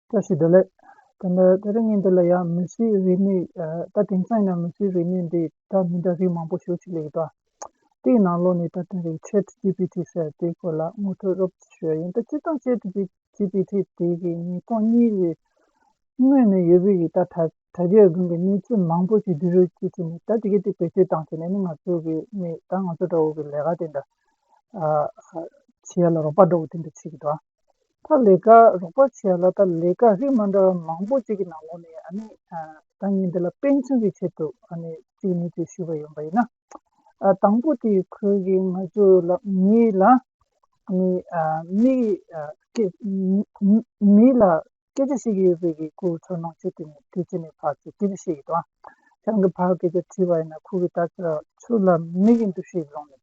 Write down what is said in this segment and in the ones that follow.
བཀྲ་ཤིས་བདེ་ལེགས། དེ་འདྲ་དེ་རིང་ཉིན་འདི་ལ་ཡང་མི་སེར་རིས་མེད་ད་དེང་སང་ཡིན་ན་མི་སེར་རིས་མེད་འདི་དག་མི་འདྲ་རིགས་མང་པོ་ཞོག་ཅིག་ལེགས་གྲ། དེ་ཡི་ནང་ལོག་ནས་ད་དེང་རིང Chat GPT ཟེར་དེའི་སྐོར་ལ་ངོ་སྤྲོད་རོབ་ཅིག་ཞུ་ཡ་ཡིན་ད་སྤྱིར་བཏང Chat GPT དེ་གི་ཉིས་སྟོང་གཉིས་ཀྱི་སྔོན་ནས་ཡོད་པོ་ཡིན་ད་དྲ་རྒྱའི་སྒང་གི་གནས་ཚུལ་མང་པོ་ཞིག་འདི་རུ་བསྐྱེལ་ཅིག་ནས་ད་དེ་གི་དེ་བེད་སྤྱོད་བཏང་ཚེ་ནས་ནི་ང་ཚོ་གི་ནས་ད་ང་ཚོ་འདྲ་བོ་གི་ལས་ཀ་དེ་འདྲ་བྱེད་ཡ་ལ་རོགས་པ་འདྲ་བོ་དེ་འདྲ་བྱེད་གི་འདུག་ཨ། ཐ་ལི་ཀ་རོགས་པ་བྱས་ལ་ཐ་ལི་ཀ་རིགས་མ་འདྲ་བ་མང་པོ་ཅིག་གི་ནང་ལོགས་ནས་ཨ་ནི་ཐང་ཉིད་འདི་ལ་དཔེ་འཆང་གི་ཆེད་དུ་ཨ་ནི་ཅིག་ནས་ཅིག་ཞུས་པ་ཡོང་པ་ཡིན་ན། དང་པོ་དེ་ཁོས་གིས་ང་ཚོ་ལ་མི་ལ་ཨ་ནི་མི་གི་སྐད་མི་ལ་སྐད་ཆ་བཤད་ཀྱི་ཡོད་པའི་གི་ཁོའི་ཁྲོ་སྣང་ཆེ་དེ་ནས་དེ་ཅི་ནས་བག་ཅེས་དེ་ལ་བཤད་ཀྱི་འདུག་ཨང། ཆང་གི་བག་སྐད་ཆ་དྲིས་པ་ཡིན་ན་ཁོ་གིས་ད་ཆ་ཚུར་ལ་མི་གི་འདུ་ཤེས་བཟུང་ནས་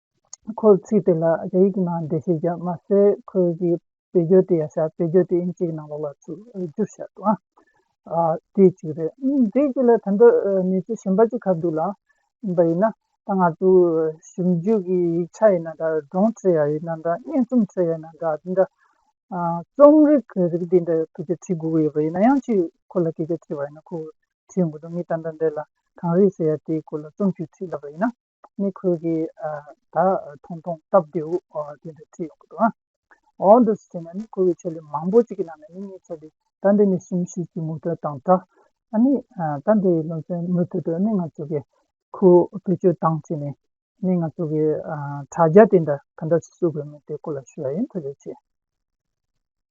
ཁོ་ཚིག་དེ་ལ་རྒྱ་ཡིག་གི་ནང་འགྲེལ་བཤད་བརྒྱབ་མ་ཟད་ཁོ་གི་བེད་སྦྱོར་དེ་ཡང་བྱ་བེད་སྦྱོར་དེ་ཨིན་སྐད་ནང་ལོག་ལ་ཚུར་བསྒྱུར་བྱ་དགོས་ཨང། དེ་གཅིག་རེད། དེ་གཅིག་ལ་ད་འདི་ནས་ཚིག་གཞན་པ་གཅིག་གབ་འདུག་ལ། འབའ་ཡིན་ན། ད་ང་ཚོ་ཞིབ་འཇུག་གི་ཡིག་ཆ་ཡིན་ན་འདྲ་སྒྲུང་ཁྲོད་ཡང་ཡིན་ན་འདྲ་སྙན་རྩོམ་ཁྲོད་ཡང་ཡིན་ན་འདྲ་དེ་འདྲ་རྩོམ་རིག་གི་རིགས་དེ་འདྲ་ཁོ་ཚོས་འབྲི་དགོས་ཡོད་པ་ཡིན་ན་ཡང་ཅིག་ཁོ་ལ་སྐད་ཆ་དྲིས་པ་ཡིན་ན་ཁོས་བྲིས་ཡོང་གི་འདུག་མི་ད་འདྲ་འདྲ་ལ་གང་རིགས་ཟེར་ཡ་དེ་སྐོར་ལ་རྩོམ་ཆུང་བྲིས་ལབ་པ་ཡིན་ན། མི་ཁུར་གི་ད་ཐུང་ཐུང་སྟབས་བདེའུ་དེ་འདྲ་ཁྲིད་ཡོང་གི་འདུག་ཨ། འོ་འདུག་ཟེར་ནས་མི་ཁུར་གི་ཆེད་ལས་མང་པོ་ཅིག་གི་ནང་ནས་མི་གཉིས་ཆེད་ལས་ཟླ་འདི་ནས་གསུམ་བཞི་གི་མུ་མཐུད་དང་སྦྲགས། ཨ་ནི་ཟླ་འདིའི་ལོ་ཚོད་མུ་མཐུད་དུ་ནི་ང་ཚོ་གི་ཁུར་བེད་སྤྱོད་བཏང་ཕྱིན་ནས་ནི་ང་ཚོ་གི་དྲ་རྒྱ་དེ་འདྲ་ག་འདྲ་ཞིག་བསུ་དགོས་མིན་དེ་སྐོར་ལ་ཞུ་བ་ཡིན་ཐུགས་རྗེ་ཆེ།